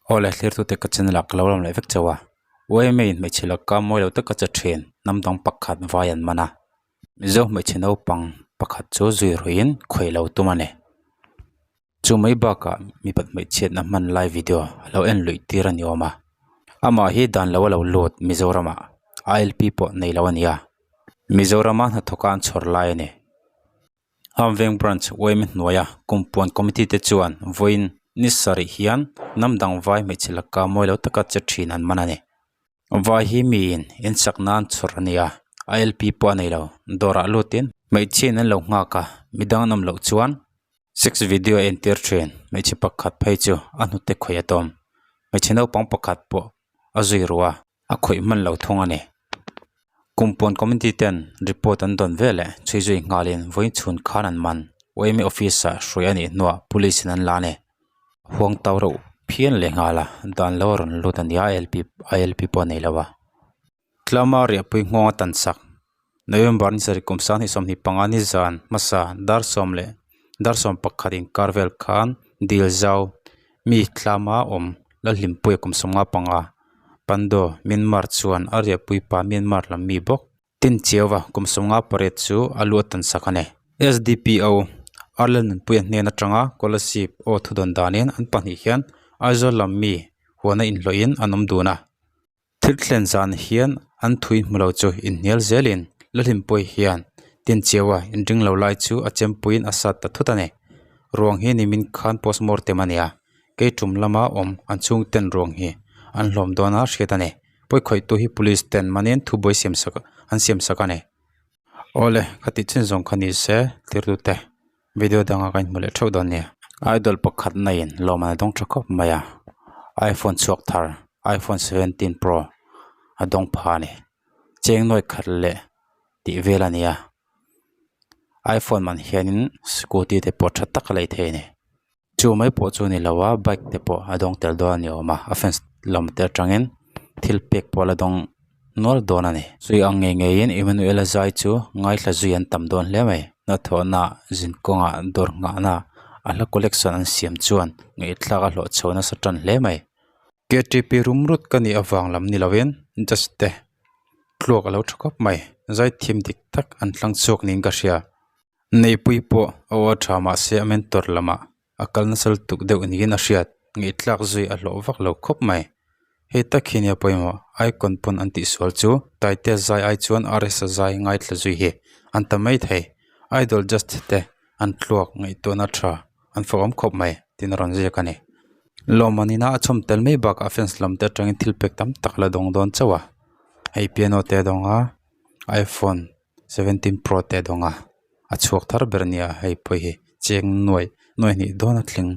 Aw le thlir tute ka chin lak ka lo lam leh vek chauh a, U Aimee in hmeichhe lakka mawi lo taka che ṭhin, hnam dang pakhat vai an man a, Mizo hmeichhe naupang pakhat chu zui ruih in khuaih lo tum a ni. Chu mai bakah mi pat hmeichhiatna hman lai video a lo en luih tir a ni awm a, amah hi dan lo a lo lut Mizoramah ILP pawh nei lo a ni a, Mizorama hnathawka an chhawr lai a ni. Hamveng Branch uaim i hnuaia kumpuan committee te chuan vawiin ni sarih hian hnam dang vai hmeichhe lakka mawi lo taka che thin an man a ni. Vai hi miin in chak nan chhur a nia, a lp pawh a nei lo. Dawrah lutin hmeichhiain an lo nghak a, midang an awm loh chuan sex video a entir thin. Hmeichhe pakhat phei chu a hnute khawih a tawm. Hmeichhe naupang pakhat pawh a zui ruh a. A khawih hman lo thung a ni. Kum pawn committee ten report an dawn ve leh chhui zui nghalin vawiin chhun khan an man. UMA office-ah hruai a nih hnuah police-in an la a ni. huang tau reuh phian leh nghal a dan lo a rawn lut a ni a lp a lp pawh a nei lo a tlama riahpui nghawng a tan chak November ni sarih kum sang ni sawmhnih panga ni zan hmasa dar sawm leh dar sawm pakhat inkar vel khan dil zau mi tlama awm Lalhlimpui a kum sawmnga panga Pandaw Myanmar chuan a riahpuipa Myanmar lam mi bawk Tin cheu va, kum sawm nga pariat chu a lu atan sak a ni. SDPO, Arlen Nunpuia hnen atanga Scholarship aw thudawn danin an pahnih hian Aizawl lam mi huana inhlawhin an awm dun a. Thil thlen zan hian an thui hmu lo chu inhnial zelin Lalhinpuia hian Tin cheua inring lo lai chu a chempuiin a sat ta thut a ni. Ruang hi nimin khan postmortem a nia, kei tum lama awm an chhungten ruang hi an hlawm dawn a hriat a ni. pawikhawihtu hi police ten manin thu buai siam sak an siam sak a ni awle ka tih chin zawng kha ni se thirtute video dangah ka inhmu leh theuh dawn nia idol pakhat na in lawmna ni dawng tha khawp mai a iphone chhuak thar iphone seventeen pro a dawng pha a ni cheng nuaih khat leh tih vel a ni a iphone man hianin scooty te pawh tha tak a lei thei a ni. Chu mai pawh chu ni lo a bike te pawh a dawng tel dawn a ni awm a a fence lam te atangin thil pek pawh a la dawng nual dawn a ni zui ang ngei ngei in Emmanuel a zai chu ngaithla zui an tam dawn hle mai hnathawhna zin kawnga dawr nghahna a hla collection an siam chuan ngaihthlak a hlawh chho nasa tan hle mai. KTP rimrut ka nih avang lam ni lovin judge te tluak alo tha khawp mai zaithim dik tak an tlang chhuak niin ka hria neipui pawh a awr tha mahse a mentor lamah a kal nasal tuk deuh niin a hriat ngeitlak zui a hlawh vak lo khawp mai hei tak hi nia pawimawh icon pawn an tihsual chu taitea zai ai chuan rs a zai ngaithla zui hi an ta mai thei idol judge te an tluak ngaihtuahna tha. an fawk awm khawp mai tiin a rawn ziak a ni lawm a nina a chhawm tel mai bakah fence lam te atangin thil pack tam tak la dawng dawn chauh a hei piano te a dawng a iphone seventeen pro te a dawng a a chhuak thar ber a ni a hei pawh hi cheng nuaih nuaih hnih dawna tling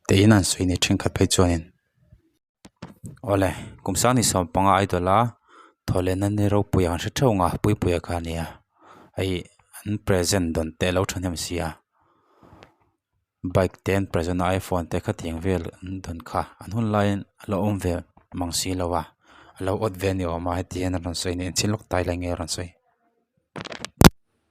tein an sawi a ni thenkhat phei chuanin. Awle, kum sang ni sawm panga idol a thawhlena nî ropui ang hre theuh ngah pui pui a kha nia hei an present dawn teh lo thahnem si a bike te an present a iphone te khatiang vel an dawn kha an hun laiin a lo awm ve mang si lo va a lo awt ve ni awm a hetihian a rawn sawi a nih ang thil lawk tai leh nge a rawn sawi.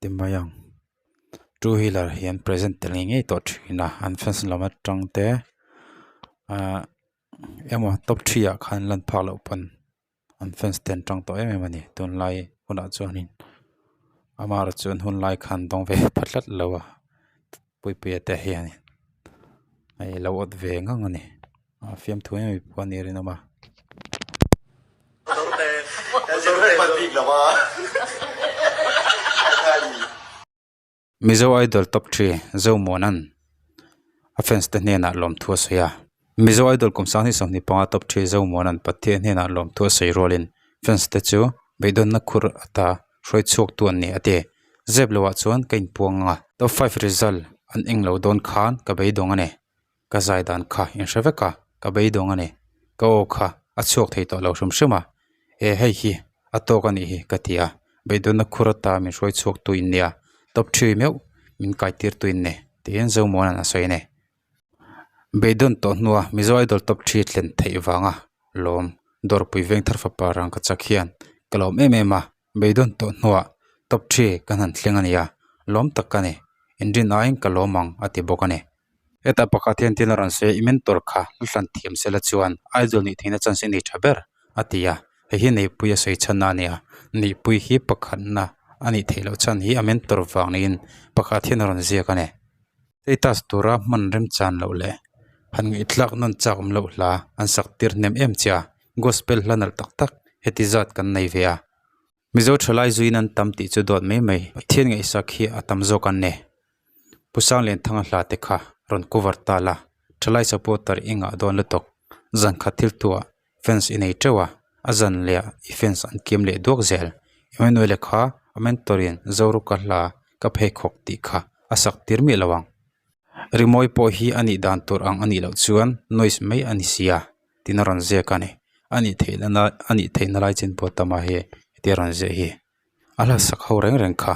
ti mai ang two wheeler hian present tel ngei ngei tawh thin a an fencing lam atang te ahh emaw top three ah khan lan phak loh pawn an fence ten a tang tawh em em a ni tunlai hunah chuan amaherawhchu an hunlai khan dawng ve phat tlat lo a. Puipuia te hian in hei a lo awt ve ngang a ni a fiamthu em emaw pawh a ni a rinawm a. Mizo Idol Top Three Zo Muanan a fans te hnenah lawmthu a sawi a. Mizo idol kum sang ni sawhni panga top three zo muan an pathian hnenah lawmthu a sawi rualin fans te chu beidawna khur a ta hruai chhuak tu an ni a ti. Zep lo ah chuan ka inpuang ang a, top five result an eng lo dawn khan ka beidawng a ni, ka zai dan kha in hre vek a, ka beidawng a ni, ka aw kha a chhuak thei tawh lo hrim hrim a, eh hei hi a tawk a nih hi ka ti a, beidawna khur a ta min hruai chhuak tu in ni a, top three meuh min kai tir tu in ni tiin zo muan an a sawi a ni. Beidawn tawh hnua Mizo Idol top three thlen theih vanga lawm dawrpui veng thar fapa rang ka chak hian ka lawm em em a beidawn tawh hnua top three ka han thleng a nia lawm tak ka ni engine aiin ka lawm ang a ti bawk a ni. Heta pakhat hian thil a rawn sawi a i mentor kha hla hlan thiam sela chuan Idol nih theihna chance i nei tha ber a ti a hei hi neihpuia sawi chhanna a nia neihpui hi pakhatna a nih theih loh chhan hi a mentor vang niin pakhat hian a rawn ziak a ni. status tura hman remchan loh leh han ngaihthlak nun chak awm loh hla an sak tir hnem em chia gospel hla nalh tak tak heti zat kan nei ve a mizo tha lai zui in an tam tih chu dawt mai mai pathian ngaihsak hi a tam zawk an ne pu sanglen thanga hla te kha rawn cover ta la tha lai supporter i ngah dawn lutuk zan khat thil tu ah fence i nei teuh a a zan leh ah i fence an kiam leh duak zel engvoi nuai leh kha a mentor in zoru ka hla ka pheikhawk tih kha a sak tir miah lo ang rimawi pawh hi a nih dan tur ang a nih loh chuan noise mai a ni sia tina rawn ziak a ni a nih theih lana a nih theih na lai chin puahtama hi hetia rawn ziah hi a hla sak ho reng reng kha.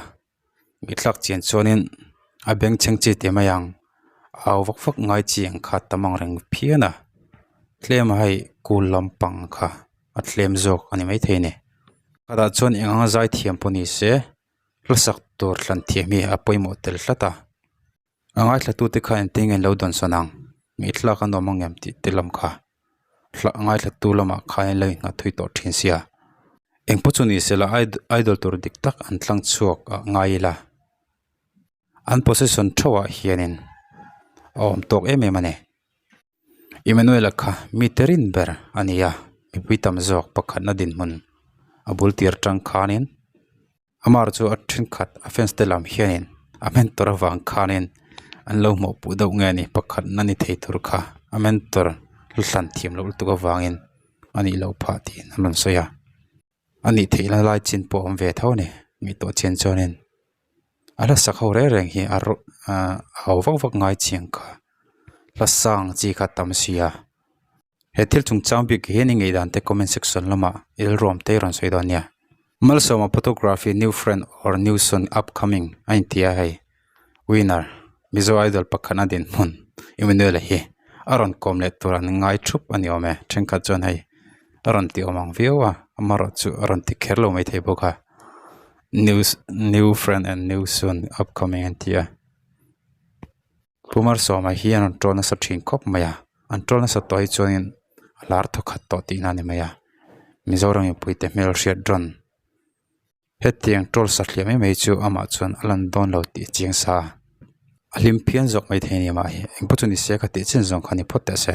i thlak chian chuanin a beng chheng chi te mai ang au vak vak ngai chi ang kha a tam ang reng phian a tlem a hei kul lampang kha a tlem zawk a ni maithei ni khawtah chuan eng anga zai thiam pawh ni se hla sak tur thlan thiam hi a pawimawh tel tlat a. A ngaithlatute kha engtin nge an lo dawnsawn ang? Ngaihtlak a nuam angiam tih te lam kha hla ngaihlattu lamah khan in lo inngahtthui tawh thin sia. Engpawh chu ni sela idol tur dik tak an tlang chhuak ah ngai ila an possession theuhah hianin a awm tawk em em a ni. Emmanuela kha mite rin ber a ni a, mipui tam zawk pakhatna dinhmun a bul tir tang khanin Amar chu a thenkhat a fans te lam hianin a mentor avang khanin an lo hmuh put deuh nge ni pakhatna ni thei tur kha a mentor hlan thiam loh lutuk avangin a nih loh phah tiin an rawn sawi a. a nih theih na lai chin pawh a awm ve tho a ni mi tawh chian chuanin a hla sak ho reng reng hi a rawh ah a hau vak vak ngai chiang kha hlasang chi kha tam sia he thil chung chang bik hian i ngaih dan te comment section lama rilruam te i rawn sawi dawn nia Malsawma photography new friend or new soon upcoming a intia hei. Winner, Mizo Idol pakhat a dinhmun Emmanuel a hi a rawn kawm leh tur an ngai thup a ni awm e, thenkhat chuan hei a rawn ti awm ang viau a, amaherawhchu chu a rawn ti kher lo mai thei bawk a, new new friend and new soon upcoming an ti a. Pu Mar Sawma hi an rawn ṭawl nasa ṭhin khawp mai a, an ṭawl nasa tawh hi chuanin a hlar thaw khat tawh tihna a ni mai a, Mizoram in puite hmel hriat ran Hetiang tawlsa hliah mai mai chu amah chuan a lan dawn lo tih chiang sa a, a hlim phian zawk mai thei a ni mah engpawh chu ni se ka tih chin zawng kha ni phawt ta se.